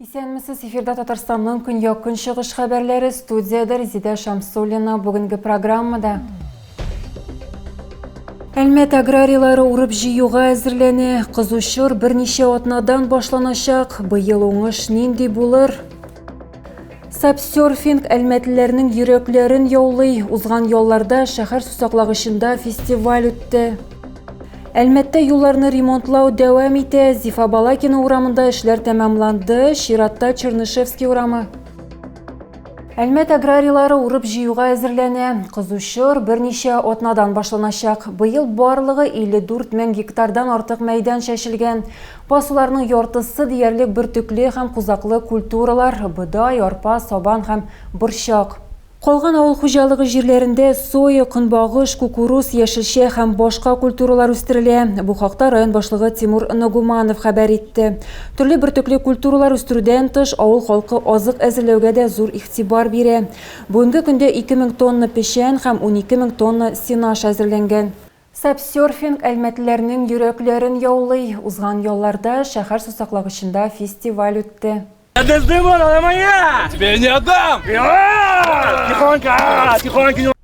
Исәнмесез, эфирда Татарстанның көньяк көнчыгыш хәбәрләре студиядә Резидә Шамсуллина бүгенге программада. Әлмәт аграрийлары урып җыюга әзерләнә. Кызучыр берничә атнадан башланачак. Быел уңыш нинди булыр? Сапсерфинг әлмәтлеләрнең йөрәкләрен яулый. Узган ялларда шәһәр сусаклагычында фестиваль үтте. Әлмәттә юлларны ремонтлау дәвам итә. Зифа Балакина урамында эшләр тәмамланды. Чиратта Чернышевский урамы. Әлмәт аграрийлары урып җыюга әзерләнә. Кызучор берничә атнадан башланачак. Быел барлыгы 54 мең гектардан артык мәйдан чәчелгән. Басуларның яртысы диярлек бөртекле һәм кузаклы культуралар, бодай, арпа, сабан һәм борчак. Калган авыл хуҗалыгы җирләрендә соя, көнбагыш, кукуруз, яшелчә һәм башка культуралар үстерелә. Бу хакта район башлыгы Тимур Ногуманов хәбәр итте. Төрле бөртекле культуралар үстерүдән тыш, авыл халкы азык әзерләүгә дә зур игътибар бирә. Бүгенге көндә ике мең тонна печән һәм унике мең тонна сенаж әзерләнгән. Сабсерфинг әлмәтлеләрнең йөрәкләрен яулый. Узган ялларда шәһәр сусаклагычында фестиваль үтте.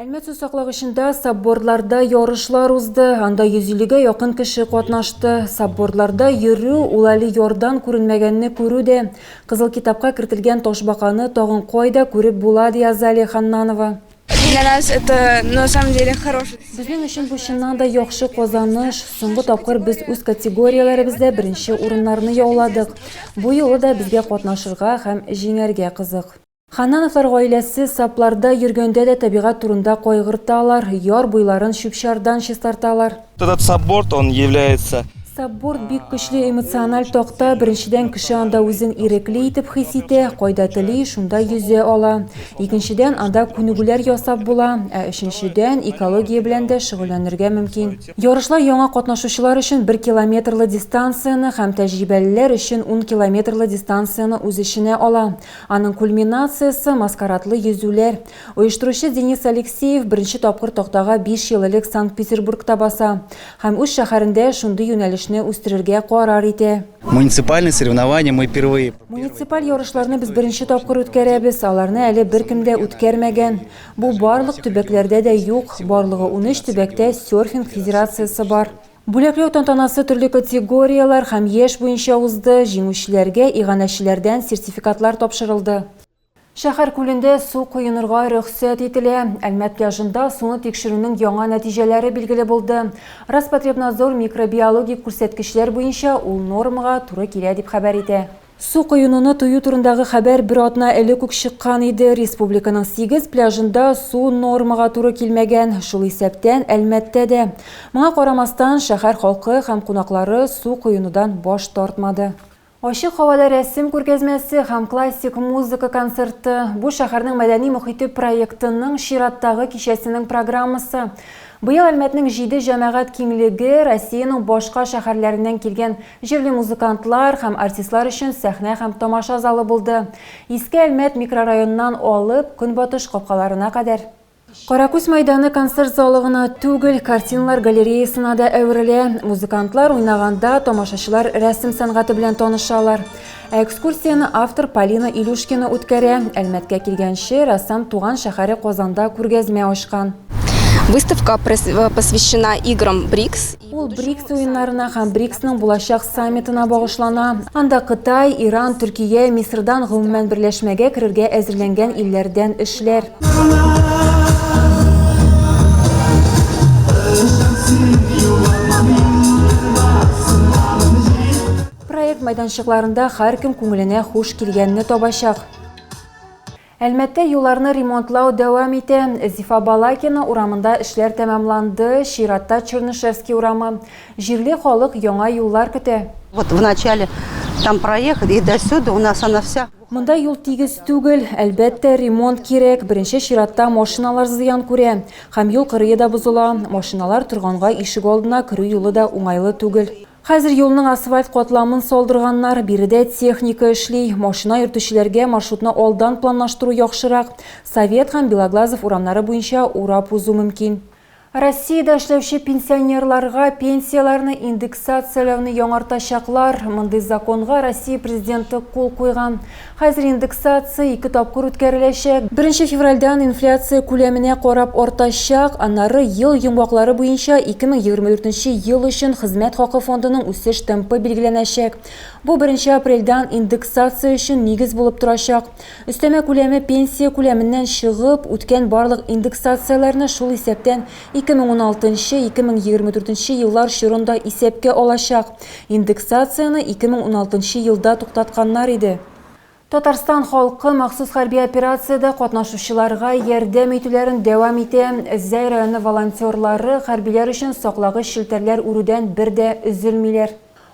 Әлмәт сусаклагычында саббордларда ярышлар узды. Анда 150-гә якын кеше катнашты. Саббордларда йөрү, ул әле ярдан күренмәгәнне күрү дә. Кызыл китапка кертелгән ташбаканы тагын кайда күреп була, ди Азалия Ханнанова. Для нас это на самом деле хороший. Безнең өчен бу чыннан да яхшы казаныш. Соңгы тапкыр без үз категорияләребездә беренче урыннарны яуладык. Бу юлы да безгә катнашырга һәм җиңәргә кызык. Ханнановлар гаиләсе сапларда йөргәндә дә табигать турында кайгырталар, яр буйларын чүп-чардан чистарталар. Этот сабборд, он является Сабборд бик көчле эмоциональ такта, беренчедән кеше анда үзен ирекле итеп хис итә, кайда тели, шунда йөзә ала. Икенчедән анда күнегүләр ясап була, ә өченчедән экология белән дә шөгыльләнергә мөмкин. Ярышлар яңа катнашучылар өчен бер километрлы дистанцияне һәм тәҗрибәлеләр өчен ун километрлы дистанцияне үз эченә ала. Аның кульминациясе, маскарадлы йөзүләр. Оештыручы Денис Алексеев беренче тапкыр тактага биш ел элек Санкт-Петербургта баса һәм үз шәһәрендә шундый юнәлешне үстерергә карар итә. Муниципальные соревнования мы впервые. Муниципаль ярышларны без беренче тапкыр үткәрәбез, аларны әле беркем дә үткәрмәгән. Бу барлык төбәкләрдә дә юк, барлыгы унөч төбәктә серфинг федерациясе бар. Бүләкләү тантанасы төрле категорияләр һәм яшь буенча узды, җиңүчеләргә иганәчеләрдән сертификатлар тапшырылды. Шәһәр күлендә су коенырга рөхсәт ителә. Әлмәт пляжында суны тикшерүнең яңа нәтиҗәләре билгеле булды. Роспотребнадзор микробиологик күрсәткечләр буенча ул нормага туры килә, дип хәбәр итә. Су коенуны тыю турындагы хәбәр бер атна элек үк чыккан иде. Республиканың сигез пляжында су нормага туры килмәгән, шул исәптән Әлмәттә дә. Моңа карамастан, шәһәр халкы һәм кунаклары су коенудан баш тартмады. Ачык һавада рәсем күргәзмәсе һәм классик музыка концерты, бу шәһәрнең мәдәни мохите проектының чираттагы кичәсенең программасы. Быел Әлмәтнең җиде җәмәгать киңлеге Россиянең башка шәһәрләреннән килгән җирле музыкантлар һәм артистлар өчен сәхнә һәм тамаша залы булды. Иске Әлмәт микрорайоныннан алып, көнбатыш капкаларына кадәр. Каракүз мәйданы концерт залы гына түгел, картиналар галереясына да әверелә. Музыкантлар уйнаганда, тамашачылар рәсем сәнгате белән танышалар. Ә экскурсияне автор Полина Илюшкина үткәрә. Әлмәткә килгәнче, рәссам туган шәһәре Казанда күргәзмә ачкан. Выставка э, посвящена играм БРИКС. Ул БРИКС уеннарына һәм БРИКСның булачак саммитына багышлана. Анда Кытай, Иран, Төркия, Мисырдан гомумән берләшмәгә керергә әзерләнгән илләрдән эшләр. Проект майданчыкларында һәркем күңеленә хуш килгәнне табачак. Әлмәттә юлларны ремонтлау дәвам итә. Зифа Балакина урамында эшләр тәмамланды, чиратта Чернышевский урамы. Җирле халык яңа юллар көтә. Вот в начале там проехали, и до сюда у нас она вся. Монда юл тигез түгел, әлбәттә, ремонт кирәк, беренче чиратта машиналар зыян күрә. Һәм юл кырые да бозыла, машиналар торганга ишек алдына керү юлы да уңайлы түгел. Хәзер юлның асфальт катламын салдырганнар, биредә техника эшли. Машина йөртүчеләргә маршрутны алдан планлаштыру яхшырак, Совет һәм Белоглазов урамнары буенча урап узу мөмкин. Россиядә эшләүче пенсионерларга пенсияләрне индексацияләүне яңартачаклар. Мондый законга Россия Президенты кул куйган. Хәзер индексация ике тапкыр үткәреләчәк. Беренче февральдән инфляция күләменә карап артачак, аннары ел йомгаклары буенча 2024 ел өчен хезмәт хакы фондының үсеш темпы билгеләнәчәк. Бу беренче апрельдән индексация өчен нигез булып торачак. Өстәмә күләме пенсия күләменнән чыгып, үткән барлык индексацияләрне, шул исәптән 2016 нчы, 2024 нче еллар чорын да исәпкә алачак. Индексацияне 2016 нчы елда туктатканнар иде. Татарстан халкы махсус хәрби операциядә катнашучыларга ярдәм итүләрен дәвам итә. Зәй районы волонтерлары хәрбиләр өчен саклагыч челтәрләр үрүдән бер дә өзелмиләр.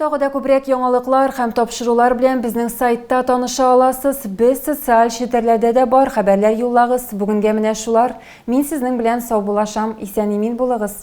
Тагы да күбрәк яңалыклар һәм тапшырулар белән безнең сайтта таныша аласыз. Без социаль челтәрләрдә дә бар, хәбәрләр юллагыз. Бүгенгә менә шулар. Мин сезнең белән саубуллашам. Исән-имин булыгыз!